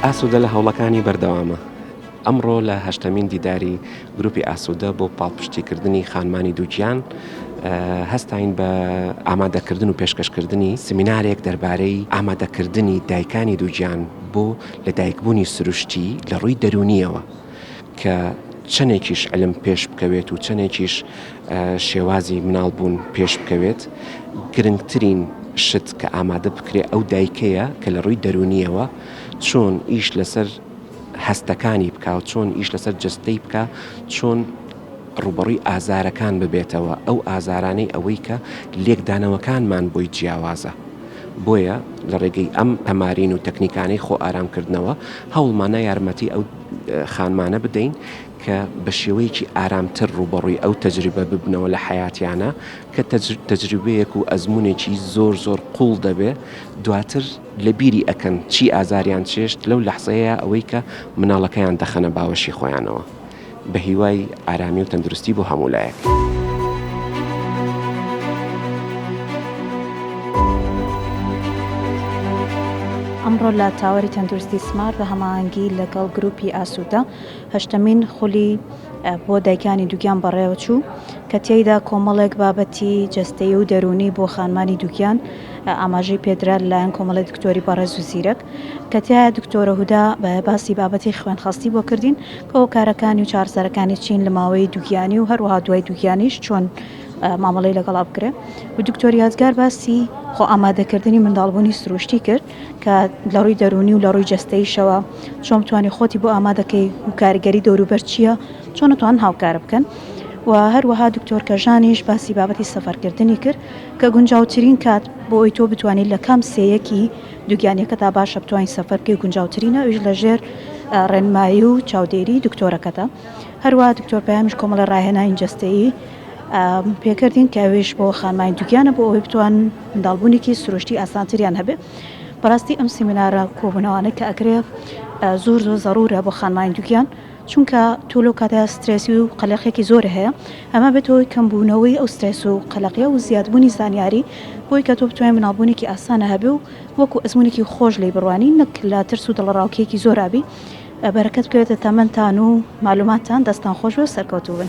ئاسوودە لە هەوڵەکانی بەردەوامە. ئەمڕۆ لە هەشتەمین دیداری گروپی ئاسوودە بۆ پاڵپشتیکردنی خانمانی دووگیان هەستین بە ئامادەکردن و پێشکەشکردنی سمینارێک دەربارەی ئامادەکردنی دایکانی دووگیان بۆ لە دایکبوونی سروشتی لە ڕووی دەرونیەوە کە چەندێکیش علم پێش بکەوێت و چەندێکیش شێوازی مناڵ بوون پێش بکەوێت گرنگترین شت کە ئامادە بکرێ ئەو دایکەیە کە لە ڕووی دەرونیەوە چۆن ئیش لەسەر هەستەکانی بکە و چۆن ئیش لەسەر جستەی بکە چۆن ڕوبڕی ئازارەکان ببێتەوە ئەو ئازارانەی ئەوەی کە لێکدانەوەکانمان بۆی جیاوازە بۆیە لە ڕێگەی ئەم تەمارین و تەکنیکانەی خۆ ئارامکردنەوە هەوڵمانە یارمەتی ئەو خانمانە بدەین کە بە شێوەیەکی ئارامتر ڕووبەڕووی ئەو تەجروبە ببنەوە لە حیاتیانە کە تەجروبەیەک و ئەزمونێکی زۆر زۆر قوڵ دەبێ دواتر لە بیری ئەەکەن چی ئازاریان چێشت لەو لەحزەیە ئەوەی کە مناڵەکەیان دەخەنە باوەشی خۆیانەوە بە هیوای ئارامی و تەندروستی بۆ هەموو لایەک. ئەمڕۆ لە تاوەری تەندروستی سمارت بە هەماهەنگی لەگەڵ گروپی ئاسوودە هەشتەمین خولی بۆ دایکانی دووگیان بەڕێوەچوو کە تێیدا کۆمەڵێک بابەتی جەستەیی و دەروونی بۆ خانمانی دووگیان ئاماژەی پێدرا لەلایەن کۆمەڵی دکتۆری بەڕێز و زیرەک کە تایە دکتۆرە هودا باسی بابەتی خوێنخەستی بۆ کردین هۆکارەکانی و چارەسەرەکانی چین لە ماوەی دووگیانی و هەروەها دوای دووگیانیش چۆن مامەڵەی لەگەڵا بکرێ و دکتۆر یادگار باسی خۆ ئامادەکردنی منداڵبوونی سروشتی کرد کە لە ڕووی دەرونی و لە ڕووی جەستەیشەوە چۆن بتوانانی خۆتی بۆ ئامادەکەی و کاریگەری دەوروبەر چییە چۆن نتوان هاوکارە بکەن و هەروەها دکتۆر کەژانیش باسی بابەتی سەفەرکردنی کرد کە گونجاوترین کات بۆ ئەوی تۆ بتوانیت لە کام سێیەکی دووگیانیەکەدا باشە بتوانیت سەفەر بکەی و گونجاوترینە ئەویش لەژێر ڕێنمایی و چاودێری دکتۆرەکەتە هەروە دکتۆر پەیامیش کۆمەڵە ڕاهێنانی جەستەیی پێکردین کە ئەوێش بۆ خانمانی دووگیانە بۆ ئەوەی بتوان منداڵبوونێکی سروشتی ئاسانتریان هەبێ بەڕاستی ئەم سیمینارە کۆبوونەوانە کە ئەکرێ زۆر زۆر زەڕورە بۆ خانمانی دووگیان چونکە تۆ لەو کاتە سترێسی و قەلەقێکی زۆرە هەیە ئەمە بێتە هۆی کەم بوونەوەی ئەو سترێس و قەلەقیە و زیاد بوونی زانیاری بۆی کە تۆ بتوانێت مناڵبوونێکی ئاسانە هەبێ و وەکو ئەزمونێکی خۆش لێی بڕوانی نەک لە ترس و دڵەڕاوکێیەکی زۆر ئابی بەرەکەت بکەوێتە تەمەنتان و مالوماتتان دەستان خۆش بێ و سەرکەوتوو بن.